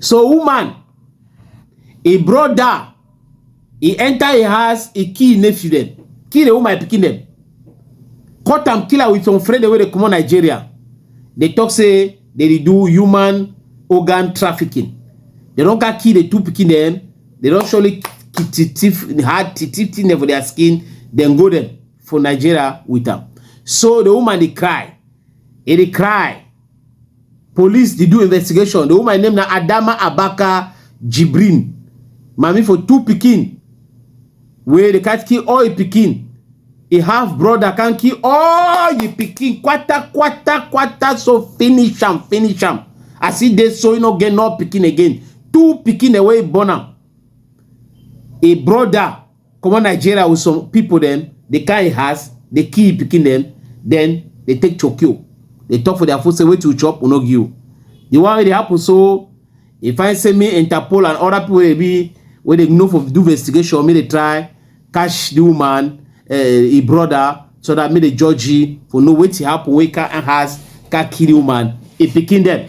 So woman, e brother, e enter e house, e kill im nephew dem, kill the woman pikin dem, cut am kill am with some friend dem wey dey comot Nigeria. Dey talk say dey dey do human organ trafficking. Dey don come kill the two pikin dem, dey don surely thief hide thief thing dem for their skin, dem go dem for Nigeria with am. So the woman dey cry, e dey cry. Police dey do investigation. The woman name na Adama Abaka Jibrin. Mami for two pikin wey dey can't kill all e pikin. E half brother can't kill all e pikin. Quata quata quata so finish am finish am. As e dey so e no get no pikin again. Two pikin away e born am. E brother comot nigeria with some people dem dey carry house dey kill im pikin dem then dey take chokio dey talk for their food say wetin you chop we no give you the one wey dey happen so e find say me interpol and other people wey be wey dey know for do investigation make dey try catch the woman uh, eh, im brother so that make dey judge you for know wetin happen wey can house can kill the woman im pikin dem.